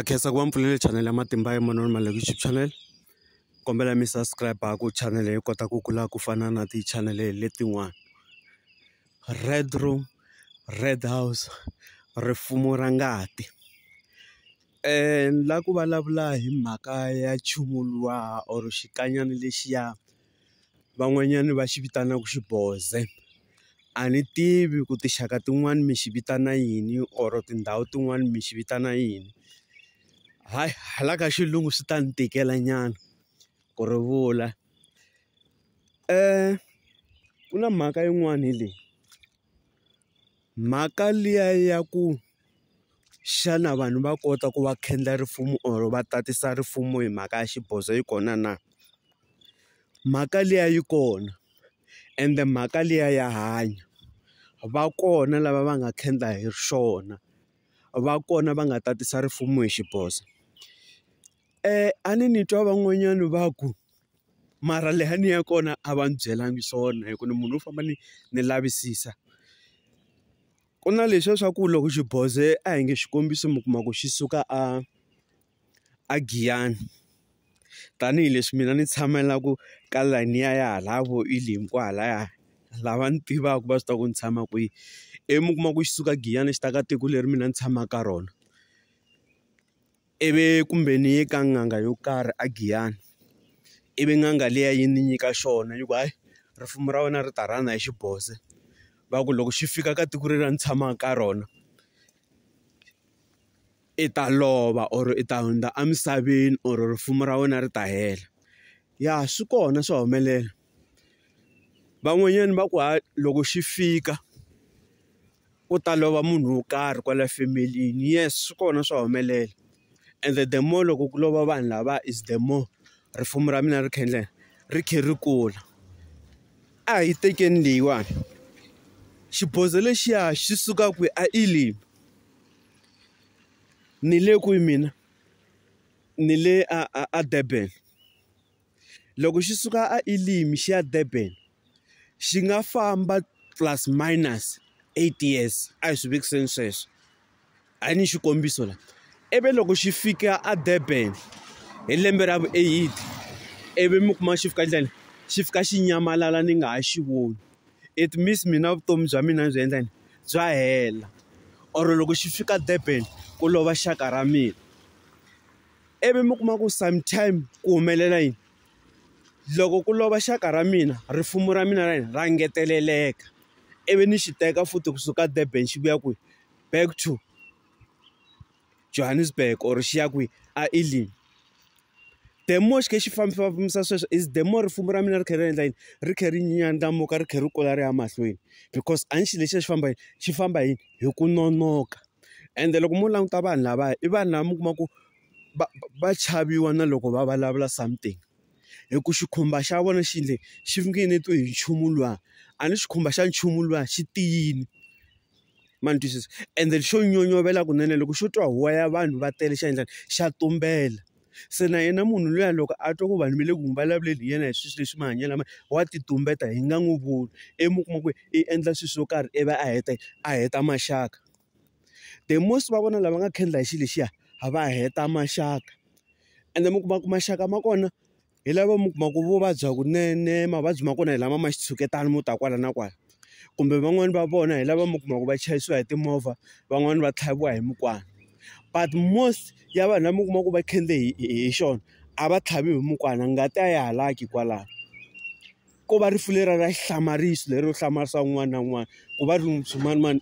khensa ku va mi pfulele chanel ya matimba ya manoni ma le YouTube channel kombela mi subscribe ku channel yi kota ku kula ku fana na ti-channel letin'wana Red room Red house rifumo ra ngati ni la ku vulavula hi mhaka ya nchumu luwa or xikanyana lexiya. van'wanyani va xi vitanaka xiboze a ni tivi ku tinxaka tin'wani mi xi vitana yini or tindhawu tin'wani mi xi vitana yini hayi hala ka xilungu swi ta ni tikela nyana ku ri vula ku na mhaka yin'wani hi leyi. Mhaka liya ya ku xana vanhu va kota ku va khendla risimu or va tatisa risimu hi mhaka ya xibozo yi kona na? Mhaka liya yi kona ende mhaka liya ya hanya. Va kona lava va nga khendla hi swona, va kona va nga tatisa risimu hi xibozo. A ni ni twa van'wanyana va ku mara leha ni ya kona a va ni byelanga swona hi ku ni munhu wo famba ni ni lavisisa ku na leswiya swa ku loko xi boze a hi nge xikombiso mi kuma ku xi suka a a Giyani tanihileswi mina ni tshamelaka ka layeni ya ya hala vo Elim kwahalaya lava ni tivaka va swi tiva ku ni tshama kwihi ivi mi kuma ku xi suka Giyani xi ta ka tiko leri mina ni tshamaka ka rona. Ivi ku mbhe ni ye ka n'anga yo karhi a Giyani ivi n'anga liya yi ni nyika xona yi ku hayi ripfumelo ra wena ri ta rhanga hi xiboze va ku loko xi fika ka tiko leri a ni tshama ka rona i ta lova or i ta hundza emisaveni or ripfumelo ra wena ri ta hela ya swi kona swa humelela. Van'wanyani va ku ha loko xi fika ku ta lova munhu wo karhi kwala family-ni yes swi kona swa humelela ende the more loko ku lova vanhu lava is the more risimu ra mina ri kha ri endla yini ri kha ri kula a hi tekeni leyiwani xibozho lexiya xi suka kwihi a i le ni le kwihi mina ni le a a a Durban. loko xi suka a Elim xi ya Durban xi nga famba plus minus eight years a hi swi vekiseni sweswo a hi ni xikombiso la ivi loko xi fika a Durban hi lembe ra vu-eight ivi mi kuma xi fika njhani xi fika xi nyamalala ni nga ha xi voni it means mina vutomi bya mina byi endla yini bya hela or loko xi fika Durban ku lova xaka ra mina. ivi mi kuma ku sometime ku humelela yini loko ku lova xaka ra mina rifumo ra mina ra ra ngeteleleka ivi ni xi teka futhi kusuka Durban xi vuya kwihi back to Johannesburg or xi ya kwihi a Elim the more xi kha xi fambafambisa sweswo is the more rifumo ra mina ri kha ri endla yini ri kha ri ndlandlamuka ri kha ri kula ri ya mahlweni because a ni xilo lexiya xi famba hi xi famba hi hi ku nonoka. ende loko mo languta vanhu lavaya i vanhu lava mi kuma ku va va chaviwa na loko va vulavula something hi ku xikhumba xa vona xi endle xi nge ni twi hi nchumu luwa a ni xikhumba xa nchumu luwa xi tiyini ma ni twisisa ende xo nyonyovela kunene loko xo twa huwa ya vanhu va tele xa endla xa tumbela. se na yena munhu luya loko a twa ku vanhu va le ku n'wi vulavuleni hi yena hi swilo leswi mahanyelo ma wa ti tumbeta hi nga n'wi voni i mi kuma ku i endla swilo swo karhi i va a heta a heta maxaka the most va vona lava nga khendla hi xilo lexiya va heta maxaka ende mi kuma ku maxaka ma kona. hi lava mi kuma ku vo vabya kunene mavabyi ma kona hi lama ma xitshuketana mo ta kwala na kwala kumbe van'wani va vona hi lava mi kuma ku va chayisiwa hi timovha van'wani va tlhaviwa hi mukwana but most ya vanhu lava mi kuma ku va khendle hi hi xona a va tlhavi hi mukwana ngati a ya halaki kwalano ko va rifu leriya ra xihlamariso lero hlamarisa un'wana na un'wana ku va ri swimanimani .